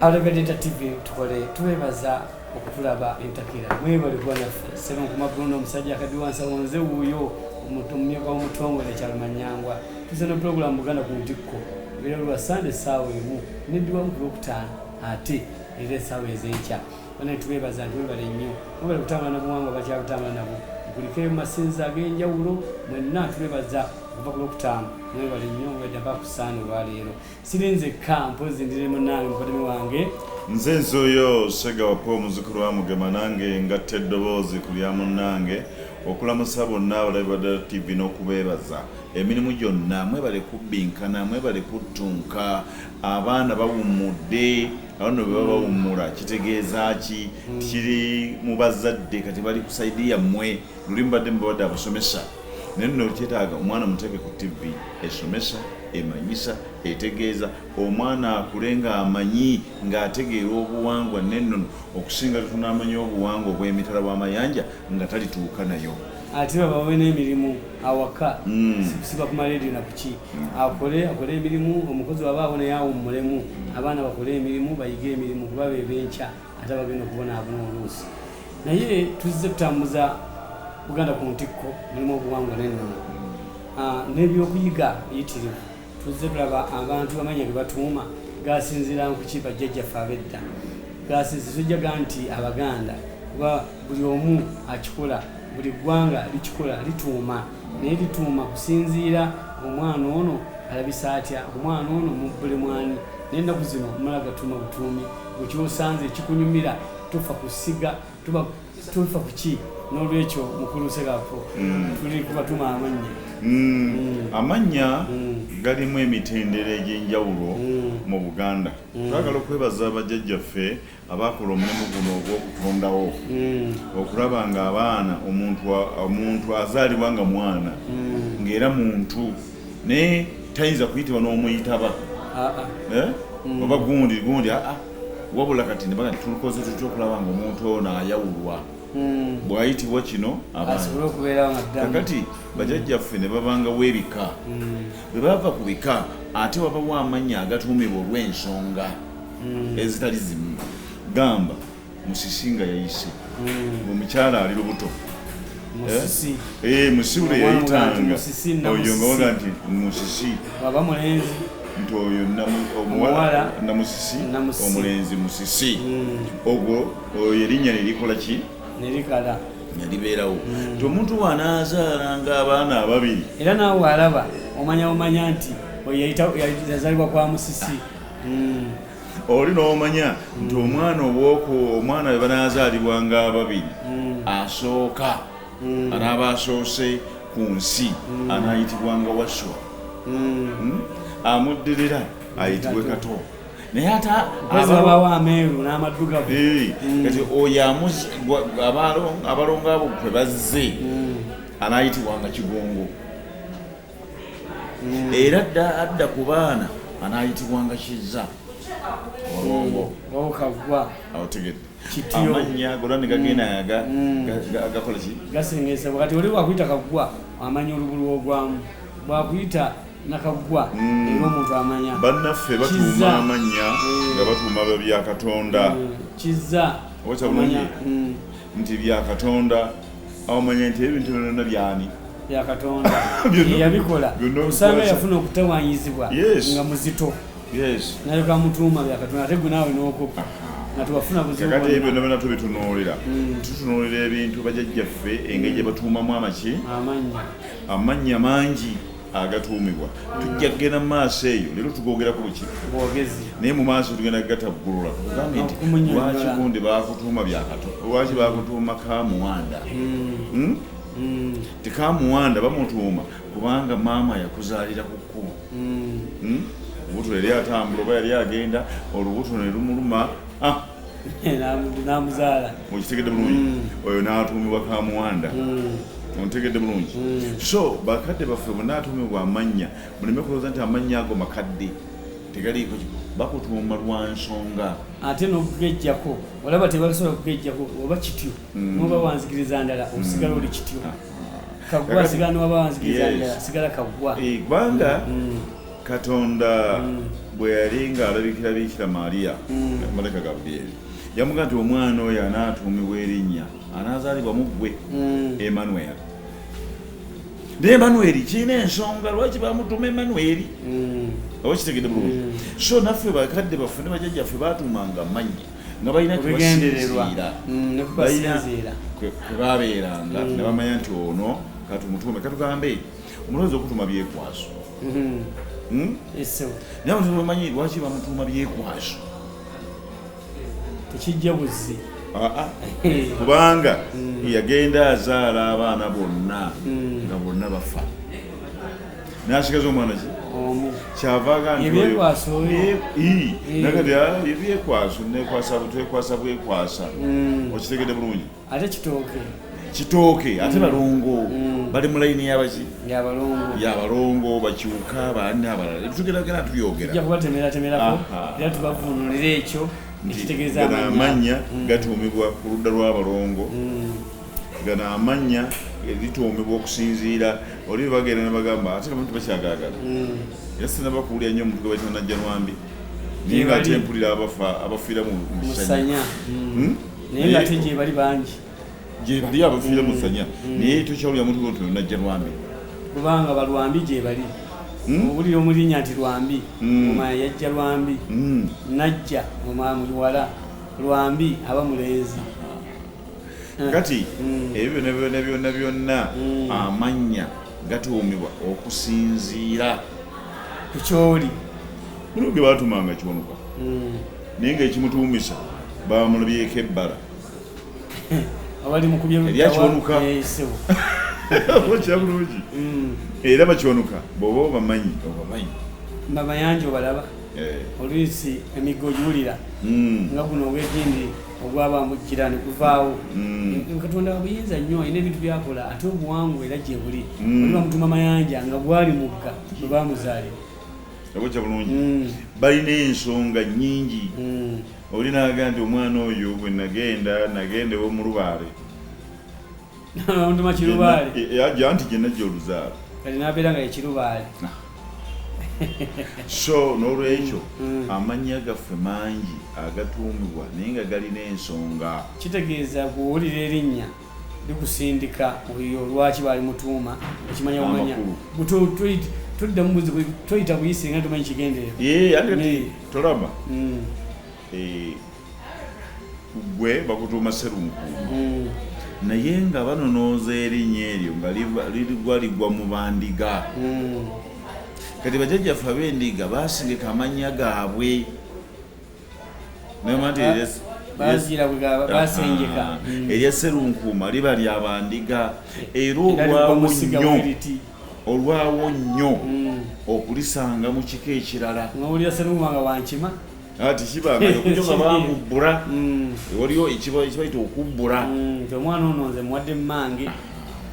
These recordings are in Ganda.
Alebedeta TV tukole twebaza okutulaba entakira mwebale kuba naffe sebe nkumabbuluna omusajja akadiwansa wonze wuuyo omuntu omumyuka w'omutongole ekyalo manyangwa tuze ne pulogulamu buganda ku ntikko era lwa sande essaawa emu neddiwamu ku lwokutaano ate era essaawa ez'enkya bana tubebaza nti webale nnyo webale kutambula nabuwangwa bakyakutambula nabo nkulikeyo mu masinza ag'enjawulo mwenna tubebaza okuva ku lwokutaano mwebale nnyo weda bakusaana olwaleero siri nzekka mpozi ndi ne munange mukodemi wange nze nzoyo sega wapa omuzukulu wa mugema nange ngatta eddoboozi ku lya munnange okulamusa bonna abalabi badala tv n'okubeebaza emirimu gyonna mwebale kubbinkana mwebale kuttunka abaana bawummudde abano bwe baba bawummula kitegeeza ki kiri mu bazadde kati bali ku saidi yammwe luli mubadde mubabadde abasomesa naye nno kyetaaga omwana muteeke ku tv esomesa emanyisa etegeeza omwana akule ng'amanyi ng'ategeera obuwangwa n'ennono okusinga tetunaamanya obuwangwa obw'emitala w'amayanja nga talituuka nayo ate babawe n'emirimu awaka hmm. sikusiba ku maleediyo na kuki hmm. akole akole emirimu omukozi wabaawo naye awummulemu abaana bakole emirimu bayige emirimu kuba bebenkya ate abagenda okubonaabona oluusi naye tuzze tutambuza buganda ku ntikko mulimu obuwangwa nennono ah, n'ebyokuyiga biyitirivu tuzze tulaba abantu bamanya ge batuuma gasinzira nkuki bajjajjaffe abedda gasinzi tujjaga nti abaganda kuba buli omu akikola buli ggwanga likikola lituuma naye lituuma kusinziira omwana ono alabisa atya omwana ono mubulemwani naye ennaku zino mala gatuma butuumi mukyosanze ekikunyumira tufa kusiga tuba tufa kuki nolwekyo mukulu serapo mm. tuli kuba tuma amannya mm. mm. amannya galimu emitendera egyenjawulo mu buganda twagala okwebaza abajajjaffe abakola omulimu guno ogwokutondawo okulaba nga abaana omuntu azaalibwa nga mwana ngaera muntu naye tayinza kuyitibwa n'omuyitaba ah, ah. Eh? Mm. oba gundi gundi aa ah, wabula kati nebaga tulukoze tutya okulaba nga omuntu ono ayawulwa mm. bwayitibwa kino kakati bajajjaffe ne babangawo ebika mm. bwe bava ku bika ate wabawo amannya agatuumibwa olw'ensonga ezitali zimu gamba musisi nga yayise hmm. omukyala ali lubuto musisi eh, eh, yayitanga oyo nga waga nti musisi aba mulenzi nti oyo omuwala namusisi omulenzi musisi hmm. ogwo oyo erinnya nerikola ki nerikala nelibeerawo hmm. nti omuntu wanaazaala nga abaana ababiri era naawe alaba omanya omanya nti oyo yazalibwa kwa musisi oli n'omanya nti omwana obwoku omwana we banaazaalibwa nga ababiri hmm. asooka hmm. anaaba asoose ku nsi hmm. anaayitibwa nga waswa hmm? amuddirira ayitibwe kato naye ateabawo ameeru n'amaddugavu kati oyo abalongo abo kwe bazze anaayitibwa nga kigongo mm. era adda ku baana anaayitibwanga kizza olongo otegedde amannya golwa ne gagenda mm. gakola ki gasengesebwa kati oli wakuyita kaggwa amanya olubulu ogwamu bwakuyita nakaggwa mm. era omuntu amanya bannaffe batuuma amannya eh. nga batuuma bya katonda kizza okyabulungi nti bya katonda omanye nti ebintu byonna byani byakatonda yeyabikola osaana yafuna okutewanyizibwa nga muzito naye kamutuuma byakatonda ate gwe naawe n'okoppa tubitunuulira mm. tutunuulira ebintu bajajjaffe engeri gyebatuumamu amaki amannya mangi agatuumibwa tujja kugenda mu maaso eyo leero tugogerako buki naye mu maaso tugenda kugataggulula tugambe nti lwaki gundi bakutuuma byakato lwaki bakutuuma kamuwanda hmm. Hmm? Hmm. tikamuwanda bamutuuma kubanga maama yakuzaalira ku kkubo olubuto yali atambula oba yali agenda olubuto ne lumuluma ah! namuzaala mukitegedde bulungi mm. oyo n'atuumibwa kamuwanda mm. ontegedde bulungi mm. so bakadde baffe bonna atuumibwa amannya muleme kulowooza nti amannya ago makadde tegaliiko bakutuuma lwa nsonga ate n'okugejjako olaba tebalisobola okugejjako oba kityo noba wanzikiriza ndala osigala oli kityo ah. kagwa sigala noba wanzikiriza ndala sigala kagwa eh, kubanga katonda mm. bwe yali ng'alabikirabiikira maaliya mm. maleka gabrieli yamuga nti omwana oyo anaatuumibwa erinnya anaazaalibwa mu ggwe mm. emanueli naye emanueli kirina ensonga lwaki bamutuma emanueli oba kitegedde bulungi so naffe bakadde baffe ne bajajjaffe baatuumanga mannya nga balina kwebasinziira mm, kwebabeeranga mm. nebamanya nti ono katumutuume katugambe omulowooza okutuma byekwaso Hmm? Hmm? naye abantu bamanyi lwaki bamutuuma byekwaso tekijja buzzi ah, ah. kubanga hmm. yagenda azaala abaana bonna nga bonna bafa nasigaza omwana ki kyavagaebyekwasonakati ah, ebyekwasa nekwasa butwekwasa bwekwasa okitegede bulungi ate kitooke kitooke ate mm. balongo mm. bali mu layini yabaki yabalongo bakyuka baani abalala tugeragera tubyogeraakubatemeratemerako era tubavunulira ekyo ekitegeeza amannya mm. gatuumibwa ku ludda lw'abalongo gano amannya lituumibwa okusinziira oli bagenda nebagamba ate abantu bakyagagala era sinabakuwulira nnyo omuntu gwebatanajjanwambi naye nga ate mpulira abafa abafiira mu musanya hmm? naye nga ate gyebali bangi gyebali abafiira musanya mm. naye tokyawulira muntu lwoto najja lwambi kubanga balwambi gyebali Hmm? obulira omulinya nti lwambi hmm. omaya yajja lwambi hmm. najja omaya muwala lwambi aba mulenzi eh. kati ebyo byona byona byona byonna amannya gatuumibwa okusinziira kukyoli mulimu ge batumanga kiwanuka naye ngaekimutuumisa bamulabyeko ebbala eryakiwanuka kyabulungi mm. era bakiwanuka bwoba obamanyi obamanyi babayanja obalaba eh. oluisi emigga ogiwulira mm. nga guno ogwegindi ogwaba mujjira neguvaawo mm. eh, katonda wabuyinza nnyo alina ebintu byakola ate obuwangu era gyebuli oliba mutuma mayanja nga gwali mugga bwebamuzaalira okujja bulungi mm. balina ensonga nyingi mm. oli naga nti omwana oyo bwe nagenda nagenda ewo mulubaale ajja nti gyenajja oluzaalo nabeera nga ekirubaale so n'olwekyo mm. amannya gaffe mangi agatuumibwa naye nga galina ensonga kitegeeza kuwulira erinnya bikusindika oyo lwaki bali mutuuma ekimanya bumanya tuddamu buzibu toyita buyise nga tumanyi kigendereotolaba mm. eh, gwe bakutuuma serunkuuma mm. naye nga banonooza erinnya eryo nga ligwa ligwa mu bandiga mm. kati bajajjaffe ab'endiga basingika amannya gaabwe erya serunkuuma liba lya bandiga era olwawo nnyo olwawo nnyo hmm. okulisanga mu kika ekirala ati kibangayo kujoka bakubbula hmm. waliyo ekibayita okubbula hmm, omwana ono nze muwadde mumange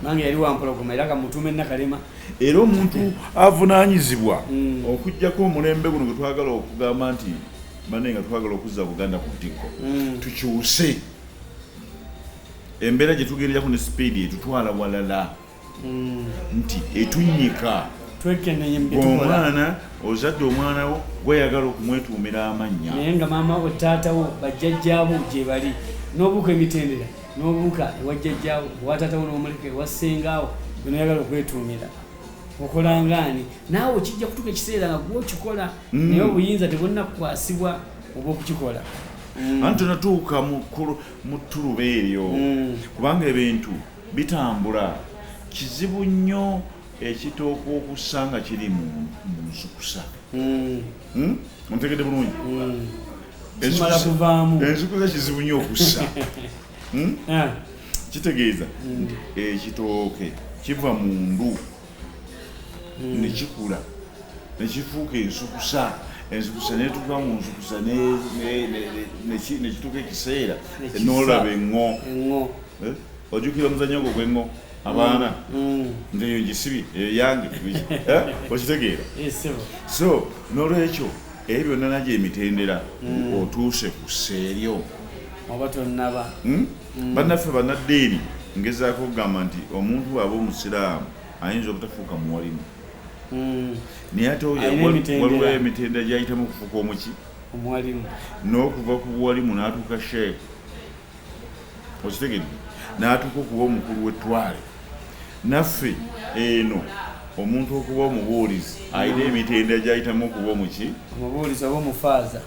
mange yali wampologoma era kamutuuma ennakalema era omuntu avunaanyizibwa mm. okujjako omulembe guno gwetwagala okugamba nti bane nga twagala okuzza buganda ku ttikko mm. tukyuse embeera gye tugererako ne sipiidi etutwala walala mm. nti etunyika omwana ozadde omwana wo gweyagala okumwetuumira amannya naye nga maama we taatawo bajjajjaabo gyebali n'obuuka emitendera n'obuuka ewa jjajjaawo owatatawo n'omuleka ewa ssengaawo bwenoyagala okwetuumira okolangaani naawe kijja kutuka ekiseera nga gwokikola mm. naye obuyinza tebulina kukwasibwa oba okukikola mm. anti tonatuuka mu ttuluba eryo mm. kubanga ebintu bitambula kizibu nnyo ekitooka okussa nga kiri mu nzukusa hmm? ontegedde bulungi kimala kuvaamu ensukusa kizibu nnyo okussa hmm? ah. kitegeeza hmm. nti ekitooke kiva mu ndu hmm. nekikula nekifuuka ensukusa ensukusa netuka mu nsukusa nekituuka ekiseera nolaba eŋŋo eh? ojukira omuzanyo gwo gweŋŋo abaana mm. nze eyo gisibye eyo yange eh? okitegeera eh, so nolwekyo ebyo byonna nagyo emitendera mm. otuuse ku seeryo oba tonaba hmm? mm. bannaffe banaddiini ngezaako okugamba nti omuntu waaba omusiraamu ayinza obutafuuka muwalimu naye ate waliwo emitendera gyayitamu okufuuka omuki n'okuva ku buwalimu n'atuuka sheeku okitegedde n'atuuka okuba omukulu w'ettwale naffe eno omuntu okuba omubuulizi alina emitendera gyayitamu okuba omuki omubuulizi oba omufaaza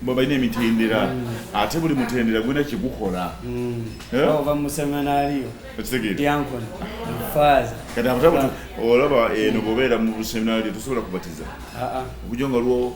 balina emitendera mm. ate buli mutendera gulina kyegukola mm. eh? ova museminariyo diankon faaza kati abatabuti olaba eno bobeera mu seminariyo tosobola kubatiza ah, ah. okujo nga lwo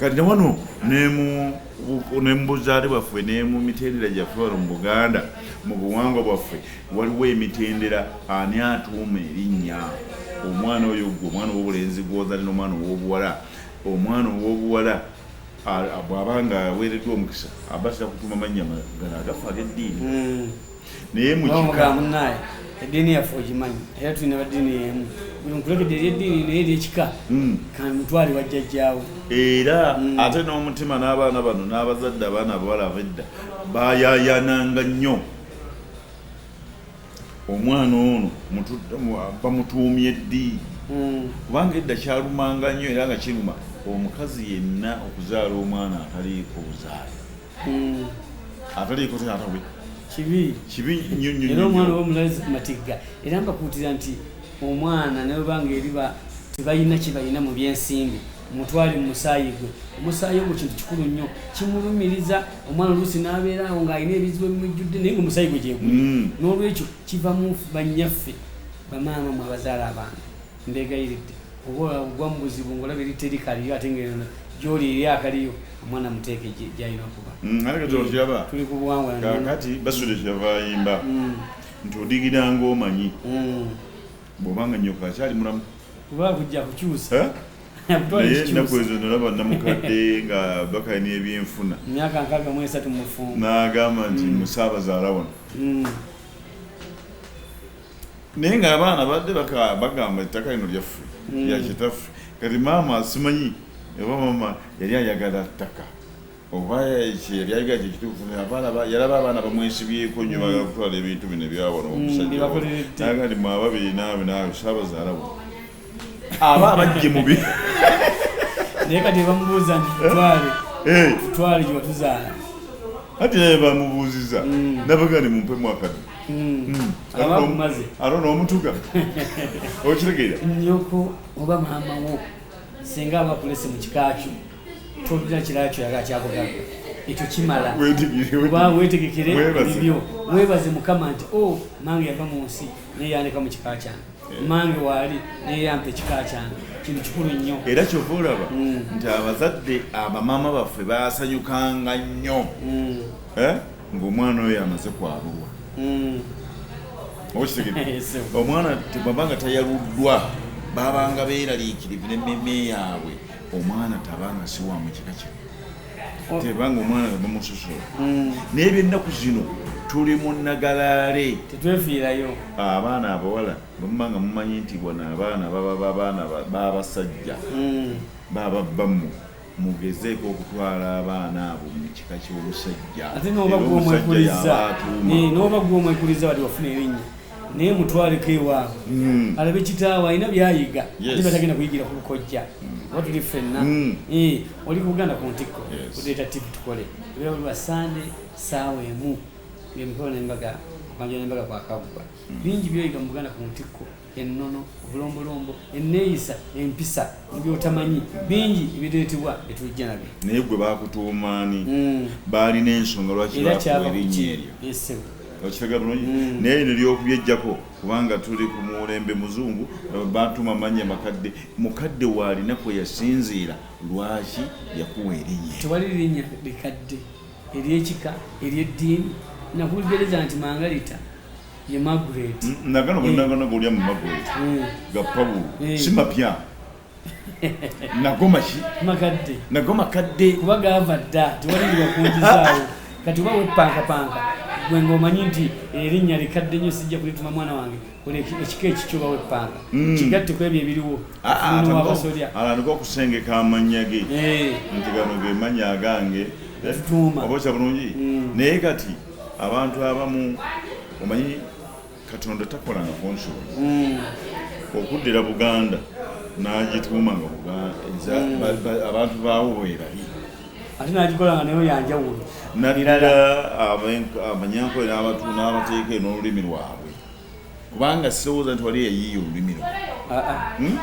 kati newano nemubuzaale bwaffe nemumitendera gyaffe wano mu buganda mu buwangwa bwaffe waliwo emitendera ani atuuma erinnya omwana oyo gwe omwana owobulenzi gwozali nomwana owobuwala omwana owobuwala bwaba nga aweereddwa omukisa abasira kutuuma mannya gano agafa ageddiini hmm. naye mukikamunaye eddiini yaffe ogimanyi era tulina baddiini yemu buli mukulekede eri eddiini naye eri ekika hmm. kamutwali wajjajjaawo era hmm. ate n'omutima n'abaana bano n'abazadde abaana abawala abedda bayayananga nnyo omwana ono bamutuumye ddi hmm. kubanga edda kyalumanga nnyo era nga kiruma omukazi yenna okuzaala omwana ataliiko buzaala mm. ataliiko taata we kibi kibi nnyo nnyo era omwana oba omulazi ku matigga era mbakuutira nti omwana nawe banga eriba tebalina kye balina mu byensimbi mutwale mu musaayi gwe omusaayi ogwo kintu kikulu nnyo kimulumiriza omwana oluusi n'abeera awo ng'alina ebizibu ebimujjudde naye nga omusaayi gwe gyeguli mm. n'olwekyo kiva mu banyaffe bamaama mu abazaala abaana Mbeegayiridde oba ogwa mu buzibu ng'olaba eri teri kaliyo ate ng'eno gy'oli eri akaliyo omwana muteeke gy'alina kuba mm, tuli ku buwangwa kakati basudde kyava ayimba mm. nti odigira ng'omanyi mm. bw'obanga nyoka akyali mulamu kuba kujja kukyusa eh? naye ennaku ezo nalaba namukadde nga bakalina ebyenfuna myaka nkaaga mu esatu mufumbo n'agamba nti musaabazaala wano naye nga abaana badde bagamba ettaka lino lyaffe hmm. yakitaffe kati maama asimanyi oba maama yali ayagala ttaka oba yali ayagala kyekituufu yalaba abaana bamwesibyeko nyo bagala hmm. kutwala ebintu bino ebyawano hmm, omusajja naga nti mwaba birina binawe sabazaalawo aba abajje mubi naye kati bamubuuza nti tutwale eh. tutwale gyewatuzaala ati naye bamubuuziza mm. nabagani mumpe mwakadde abakumaze alona omutuga okitegeera nyoko oba maama wo singa abakulese mu kika kyo tolina kirala kyo yaga kyakugamba ekyo kimala oba wetegekere ebibyo webaze mukama nti o oh, nange yava mu nsi naye yandeka mu kika kyange mange waali naye yampa ekika kyange kintu kikulu nnyo era kyova olaba mm. nti abazadde abamaama baffe basanyukanga nnyo mm. eh? ngaomwana oyo amaze kwabulwa mm. okitegee omwana tebaba nga tayaluddwa babanga beeraliikirivu nemmeme yaabwe omwana tabanga siwa mu kika kino tebanga omwana nga bamusosola mm. naye byennaku zino tuli mu nagalaale tetwefiirayo ah, abaana abawala bamuma nga mumanyi nti bona abaana baba babaana babasajja mm. baba bamu mugezeeko okutwala abaana abo mu kika ky'omusajja ate noba gwomwekuliza wali wafuna erinnya naye mutwaleko ewaabwe hmm. alabe kitaawe alina byayiga ate batagenda kuyigira ku bukojja hmm. oba tuli ffenna hmm. eh, oli kubuganda ku ntikko odeeta tipu tukole ebera buli basande saawa emu ngemikolo nembaga manja nembaga kwakagwa bingi byoyiga mubuganda ku ntikko ennono obulombolombo enneeyisa empisa ebyotamanyi bingi ebireetebwa etujja nabyo naye gwe bakutuumaani baalina ensonga lwaki bakuwa erinnya eryo okitega bulungi mm. naye lino lyokubyejjako kubanga tuli ku mulembe muzungu batuma manya makadde mukadde waalina kwe yasinziira lwaki yakuwa erinnya tewali linnya likadde eryekika eryeddiini nakugereza nti mangalita ye magret mm, nagano gonagano eh. golya mu magret eh. ga pawulo eh. si mapya nago maki makadde nago makadde kuba gaava dda tewalibira okunjizaawo kati oba wepankapanka gwe ngaomanyi nti erinnya likadde nnyo sijja kulituma mwana wange oli ekika ekikyo oba wepanka hmm. kigatte ku ebyo ebiriwo ah, ah, muno wabasolya alandika okusengeka amannya ge eh. nti gano ge mannya agange tutuuma oba okya bulungi hmm. naye kati abantu abamu omanyi katonda takola nga consuls mm. okuddira buganda n'agituuma nga mm. abantu baawo bwerali ate nagikola nga nayo yanjawulo naddala abanyankole n'abateeka n'olulimi lwabwe kubanga sirowooza nti wali yayiiya olulimi lwo ah, ah. hmm?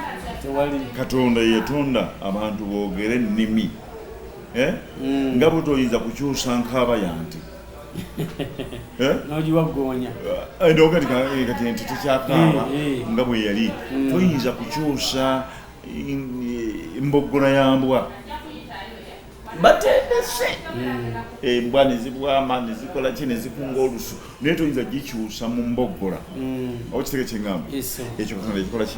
katonda yetonda abantu boogere ennimi eh? hmm. nga butoyinza kukyusa nkaaba yanti Eh? nogiwagoonya eh, ndogati kati nti tekyakaaba eh, nga bwe yali mm. toyinza kukyusa mboggola ya mbwa batendese mm. embwa nezibwama nezikola ki nezikunga olusu naye toyinza gikyusa mu mboggola mm. okitege kyeŋamba ekyo katonda ekikola ki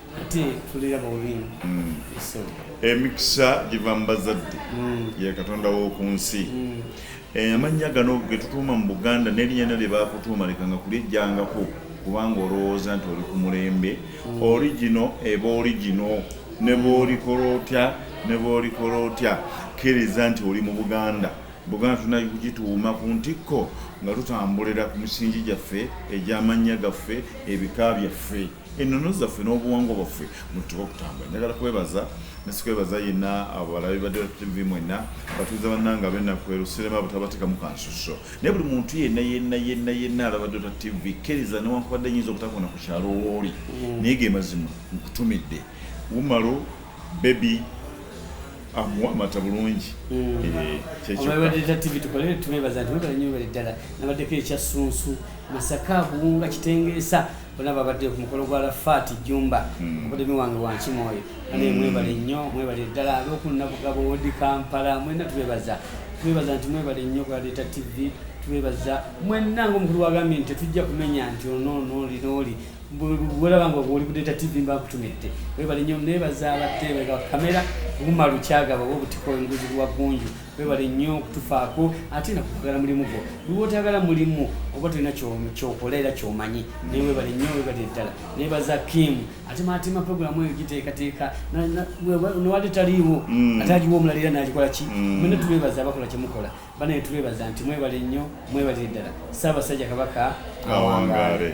mm. emikisa giva mu bazadde mm. ye katonda w'oku nsi mm. eh, amannya gano ge tutuuma mu buganda n'erinnya lyo lye baakutuuma lekanga kulyejjangako kubanga olowooza nti oli ku mulembe origino eba origino ne bwolikola otya ne bwolikola otya kkiriza nti oli mu buganda buganda tulina kugituuma ku ntikko nga tutambulira ku misingi gyaffe egy'amannya gaffe ebika byaffe ennono zaffe n'obuwangwa bwaffe mututuka okutambula njagala kwebaza nesikwebaza yenna abalabi badtv mwenna batuuza bannanga abenakweru sirema butabatekamu kansuso naye buli muntu yenna yenna yenna yenna alaba dota tv kkiriza newankubadde nyinza obutakona ku kyalo wooli mm. naye ge mazima nkutumidde wumalo bebi amuwa amata bulungi mm. eh, kyekyoaddala nabaddeko ekyassunsu masaka buwunga kitengeesa bona babadde ku mukolo gwa lafaati jumba hmm. obudemi wange wankima oyo ane hmm. mwebale nnyo mwebale ddala abeokunabuga bowodi kampala mwena tubebaza tubebaza nti mwebale nnyo kwaleeta tv tubebaza mwena ngaomukulu wagambye nti tetujja kumenya nti ononoolinooli bwolaba nga oli kudeeta tv mbakutumidde webale nnyo nebaza abateebeka kamera oguma lukyagaba oba obutiko enguzi lwa gunju webale nnyo okutufaako ate nakukwagala mulimu gwo lwotagala mulimu oba tolina kyokola era kyomanyi naye webale nnyo webale ddala naye baza kim ate matima programu eyo giteekateeka newali taliiwo mm. ate agiwa omulala era nagikola ki mm. mwena tubebaza abakola kyemukola banaye tubebaza nti mwebale nnyo mwebale ddala saabasajja kabaka awangaale